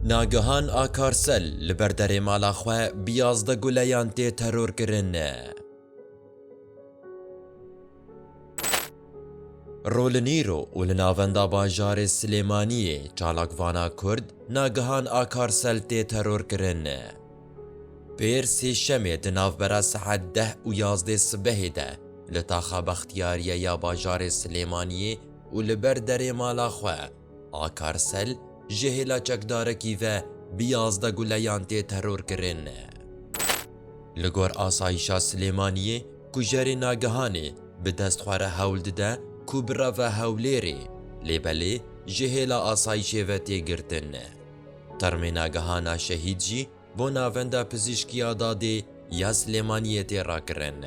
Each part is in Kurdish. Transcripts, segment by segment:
Nagihan Akarsel li ber derê mala xwe bi yazdeh guleyan tê terorkirin. Rolînîro û li navenda bajarê Silêmaniyê çalakvana Kurd Nagihan Akarsel tê terorkirin. Pêr Sêşemê di navbera saet deh û yazdê sibehê de li taxa Bextiyariye ya bajarê Silêmaniyê û li ber derê mala xwe, Akarsel ji hêla çekdarekî ve bi yazdeh guleyan tê terorkirin. Li gor asayîşa Silêmaniyê kujerê nagihanê bi dest xwe re hewl dide ku bireve Hewlêrê, lê belê ji hêla asayîşê ve tê girtin. Termê nagihana Şehîd jî bo Navenda Pizîşkî ya Dadê ya Silêmaniyê tê rakirin.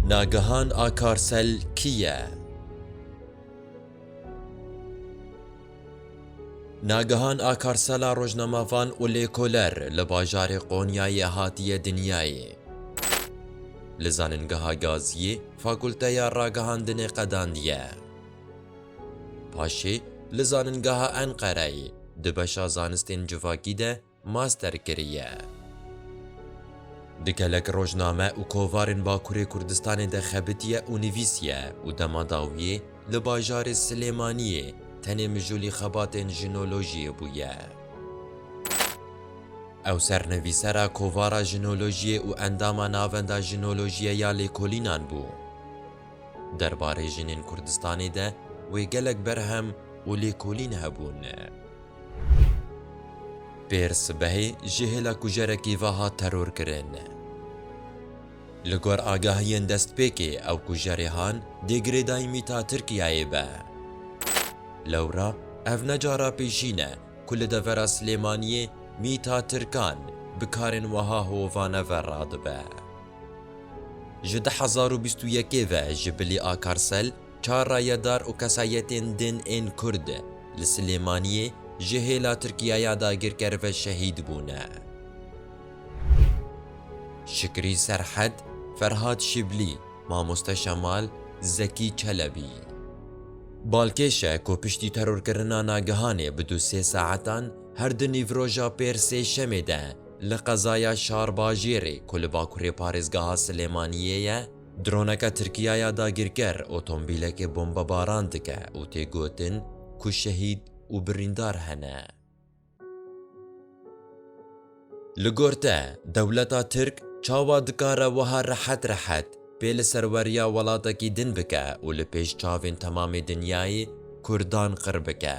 Nagihan Akarsel kî ye? Nagihan Akarsela rojnamevan û lêkoler li bajarê Qonyayê hatiye dinyayê. Li Zaningeha Gaziyê Fakulteya Ragihandinê qedandiye. Paşê li Zaningeha Enqereyê di beşa Zanistên Civakî de master kiriye. Di gelek rojname û kovarên Bakurê Kurdistanê de xebitiye û nivîsiye û dema dawiyê li bajarê Silêmaniyê tenê mijûlî xebatên jinolojiyê bûye. Ew sernivîsera kovara jinolojiyê û endama Navenda Jinolojiye ya Lêkolînan bû. Derbarê jinên Kurdistanê de wê gelek berhem û lêkolîn hebûn. Pêr sibehê ji hêla kujerekî ve hat terorkirin. Li gor agahiyên destpêkê ew kujerê han dê girêdayî mîta Tirkiyeyê be. Lewra ev ne cara pêşîn e ku li devera Silêmaniyê mîta Tirkan bi karên weha hovane ve radibe. Ji du hezar û bîst û yekê ve ji bilî Akarsel çar rayedar û kesayetên din ên Kurd li Silêmaniyê ji hêla Tirkiye ya dagirker ve şehîd bûne. Şikrî Serhed, Ferhad Şiblî, Mamoste Şemal, Zekî Çelebî. Balkêş e ku piştî terorkirina nagihanê bi du sê saetan her du nîvroja pêr sê şemê de Li qezaya Şarbajêrê ku li bakurê parêzgeha Silêmaniyê ye, droneke Tirkiya ya dagirker otombîlekê bombebaran dike û tê gotin ku şehîd û birîndar hene. Li gor te, dewleta Tirk çawa dikare wiha rehet rehet pê li ser weriya welatekî din bike û li pêş çavên temamê dinyayê Kurdan qir bike?